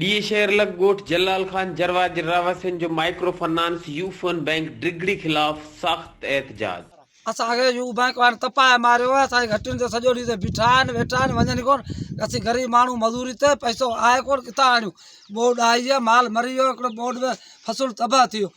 ڊيئي شهر لڳ ڳوٺ جلال خان جروا جي رهواسين جو micro finance Ufone bank Digri خلاف سخت احتجاج. اسان کي يو بئنڪ وارن تپائي ماريو آهي اسان جي گهٽين تي سڄو ڏينهن بيٺا آهن ويٺا آهن ونڃن ئي ڪون اسين غريب ماڻهو مزوري تي پئسو آهي ڪون ڪٿان آڻيون ٻوڏ آئي آهي مال مري ويو هڪڙو ٻوڏ ۾ فصل تباهه ٿي ويو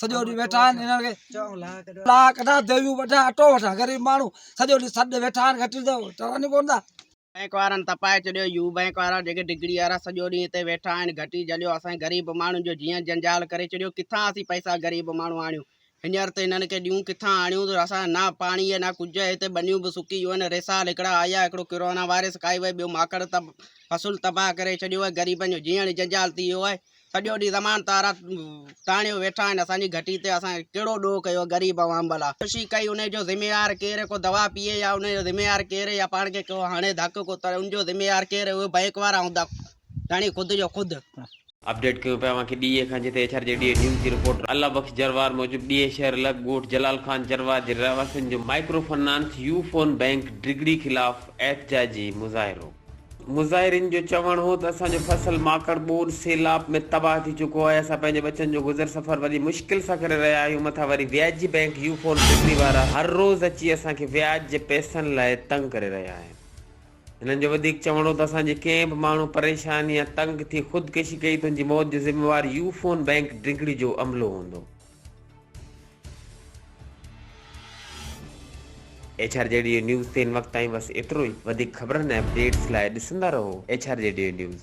سڄو ڏينهن ويٺا آهن انهن کي لاء ڪڍا ديويون وڍا اٽو وڍا غريب ماڻهو سڄو ڏينهن سڏ ويٺا آهن گهٽين تي چوندي ڪونه ٿا بئنڪ وارن تپائي ڇڏيو يو بئنڪ وارا جيڪي ڊگڙي وارا سڄو ڏينهن هتي ويٺا آهن گهٽي جهليو اسان غريب ماڻهن جو جيئن جنجال ڪري ڇڏيو ڪٿان اسين پئسا غريب ماڻهو آڻيون هينئر ته هنن کي ڏيون ڪٿان آڻيون ته اسان نه پاڻي نه ڪجهه هتي ٻنيون به سڪي ويون آهن ريسال هڪڙا آيا هڪڙو ڪرونا وائرس کائي وئي ٻيو ماڪڙ تب فصل تباهه ڪري ڇڏيو آهي غريبن جو جيئڻ جنجال ٿي ويو آهي سڄو ڏينهن زمان تارا تاڻيو ويٺا آهن اسان جي گهٽي تي اسان ڪهڙو ڏوهه ڪيو غريب عوام ڀلا خودڪشي ڪئي انهي جو ذميوار ڪير ڪو دوا پيئي يا انهي جو ذميوار ڪير يا پاڻ کي ڪو هڻي ڌڪ ڪو تڙي ان جو ذميوار ڪير اهي بئنڪ وارا هوندا ڌڻي خود جو خود. اپڊيٽ ڪيون پيا اوهان کي ڊيئي کان جتي ايڇ آر جي ڊيئي نيوز جي رپورٽ الله بخش جروار موجب ڊيئي شهر لڳ ڳوٺ جلال خان جروار جي رهواسين جو micro finance Ufone bank Digri خلاف احتجاجي مظاهرو. مظاهرين جو چوڻ هو ته اسان جو فصل ماڪڙ ٻوڏ سيلاب ۾ تباهه ٿي چڪو آهي، اسان پنهنجي ٻچن جو گذر سفر وڏي مشڪل سان ڪري رهيا آهيون، مٿان وري وياجي بئنڪ يو فون ٽڪري وارا هر روز اچي اسان کي وياج جي پئسن لاء تنگ ڪري رهيا آهن. هنن جو وڌيڪ چوڻ هو ته اسان جي ڪنهن به ماڻهو پريشان يا تنگ ٿي خودڪشي ڪئي ته ان جي موت جو ذميوار يو فون بئنڪ ڊگهڙي جو عملو هوندو. H R G D E news تي هن وقت تائين بس ايترو ئي وڌيڪ خبرن ۽ اپڊيٽس لاء ڏسندا رهو H R G D E news.